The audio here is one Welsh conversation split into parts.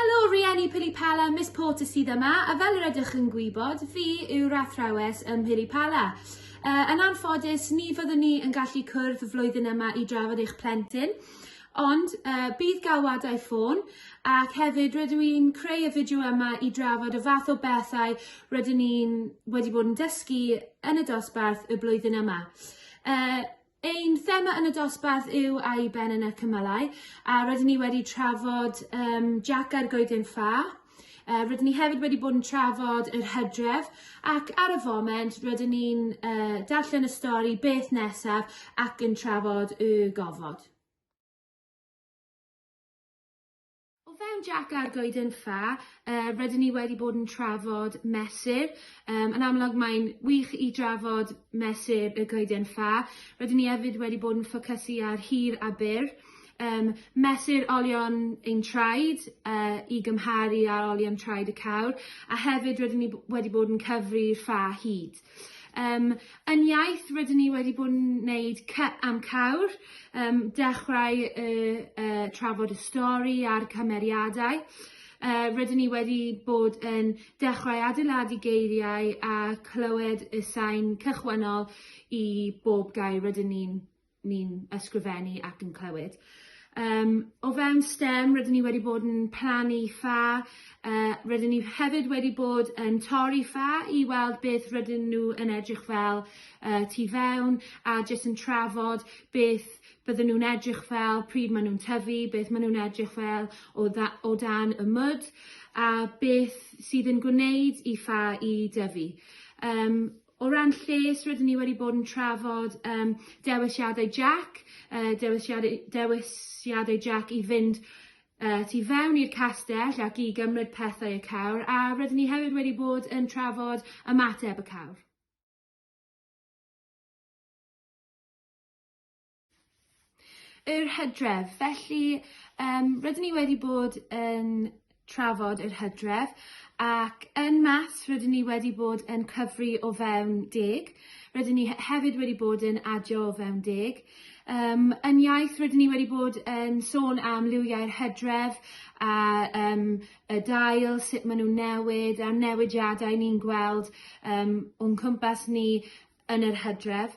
Helo Rieni Pilipala, Miss Porter sydd yma, a fel yr ydych yn gwybod, fi yw'r athrawes ym Pilipala. Uh, yn anffodus, ni fyddwn ni yn gallu cwrdd flwyddyn yma i drafod eich plentyn, ond uh, bydd galwadau ffôn ac hefyd rydw i'n creu y fideo yma i drafod y fath o bethau rydyn ni'n wedi bod yn dysgu yn y dosbarth y blwyddyn yma. Uh, Ein thema yn y dosbarth yw a'i ben yn y cymylau, a rydyn ni wedi trafod um, Jack a'r goeden ffa. Uh, rydyn ni hefyd wedi bod yn trafod yr hydref ac ar y foment rydyn ni'n uh, darllen y stori beth nesaf ac yn trafod y gofod. O fewn Jac a'r Goeden Ffa yy rydyn ni wedi bod yn trafod mesur yym yn amlwg mae'n wych i drafod mesur y Goeden Ffa. Rydyn ni hefyd wedi bod yn ffocysu ar hir a byr yym mesur olion ein traed yy i gymharu â olion traed y cawr a hefyd rydyn ni b- wedi bod yn cyfri'r ffa hyd. Yym yn iaith rydyn ni wedi bod yn neud cy am cawr yym dechrau y yy trafod y stori a'r cymeriadau yy rydyn ni wedi bod yn dechrau adeiladu geiriau a clywed y sain cychwynnol i bob gair rydyn ni'n ni'n ysgrifennu ac yn clywed. Um, o fewn STEM, rydyn ni wedi bod yn plannu ffa, uh, rydyn ni hefyd wedi bod yn torri ffa i weld beth rydyn nhw yn edrych fel uh, tu fewn a jyst yn trafod beth bydden nhw'n edrych fel, pryd maen nhw'n tyfu, beth maen nhw'n edrych fel o, dda, o dan y mwd a beth sydd yn gwneud i ffa i dyfu. Um, O ran lles, rydyn ni wedi bod yn trafod um, dewisiadau Jack, uh, dewisiadau, dewisiadau Jack i fynd uh, tu fewn i'r castell ac i gymryd pethau y cawr, a rydyn ni hefyd wedi bod yn trafod ymateb y cawr. Yr hydref. Felly, um, rydyn ni wedi bod yn trafod yr hydref ac yn mas rydyn ni wedi bod yn cyfri o fewn deg. Rydyn ni hefyd wedi bod yn adio o fewn deg. Um, yn iaith rydyn ni wedi bod yn sôn am liwiau'r hydref a um, y dail, sut maen nhw'n newid a'r newidiadau ni'n gweld um, o'n cwmpas ni yn yr hydref.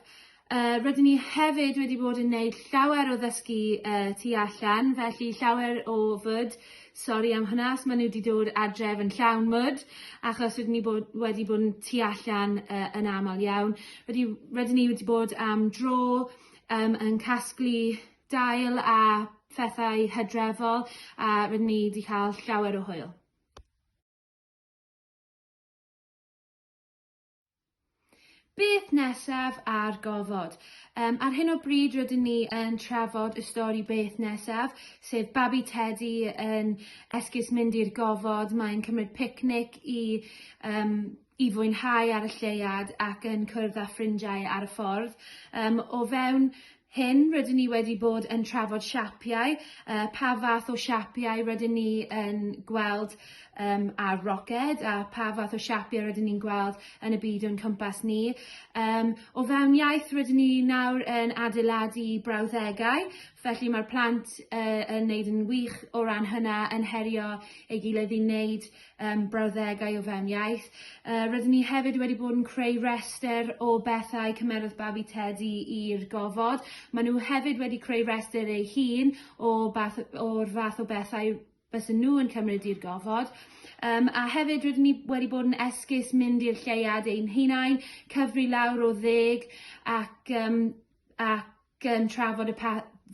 Uh, rydyn ni hefyd wedi bod yn gwneud llawer o ddysgu uh, tu allan, felly llawer o fyd. Sori am hynna, os maen nhw wedi dod adref yn llawn mwd, achos rydyn ni bod, wedi bod yn tu allan uh, yn aml iawn. Wedi, rydyn ni wedi bod am dro um, yn casglu dail a phethau hydrefol, a rydyn ni wedi cael llawer o hwyl. Beth nesaf ar gofod? Um, ar hyn o bryd rydyn ni yn trafod y stori Beth nesaf, sef babi Teddy yn esgus mynd i'r gofod, mae'n cymryd picnic i, um, i fwynhau ar y lleuad ac yn cwrdd â ffrindiau ar y ffordd. Um, o fewn hyn rydyn ni wedi bod yn trafod siapiau, uh, pa fath o siapiau rydyn ni yn gweld um, ar roced a pa fath o siapiau rydyn ni'n gweld yn y byd o'n cwmpas ni. Um, o fewn iaith rydyn ni nawr yn adeiladu brawddegau, felly mae'r plant uh, yn neud yn wych o ran hynna yn herio ei gilydd i wneud um, brawddegau o fewn iaith. Uh, rydyn ni hefyd wedi bod yn creu rester o bethau cymerodd babi Teddy i'r gofod. Maen nhw hefyd wedi creu rester ei hun o bath, o'r fath o bethau bys nhw yn cymryd i'r gofod. Um, a hefyd rydyn ni wedi bod yn esgus mynd i'r lleiad ein hunain, cyfri lawr o ddeg ac, um, ac um, trafod y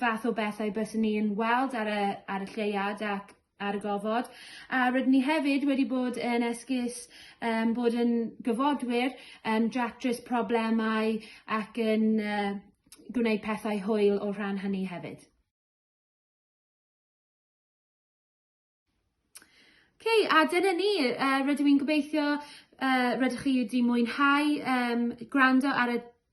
fath o bethau bys ni yn weld ar y, ar y lleiad ac ar y gofod a rydyn ni hefyd wedi bod yn esgus um, bod yn gyfodwyr yn um, dratrys problemau ac yn uh, gwneud pethau hwyl o rhan hynny hefyd. okay, a dyna ni, uh, rydw i'n gobeithio uh, rydych chi wedi mwynhau um, gwrando ar y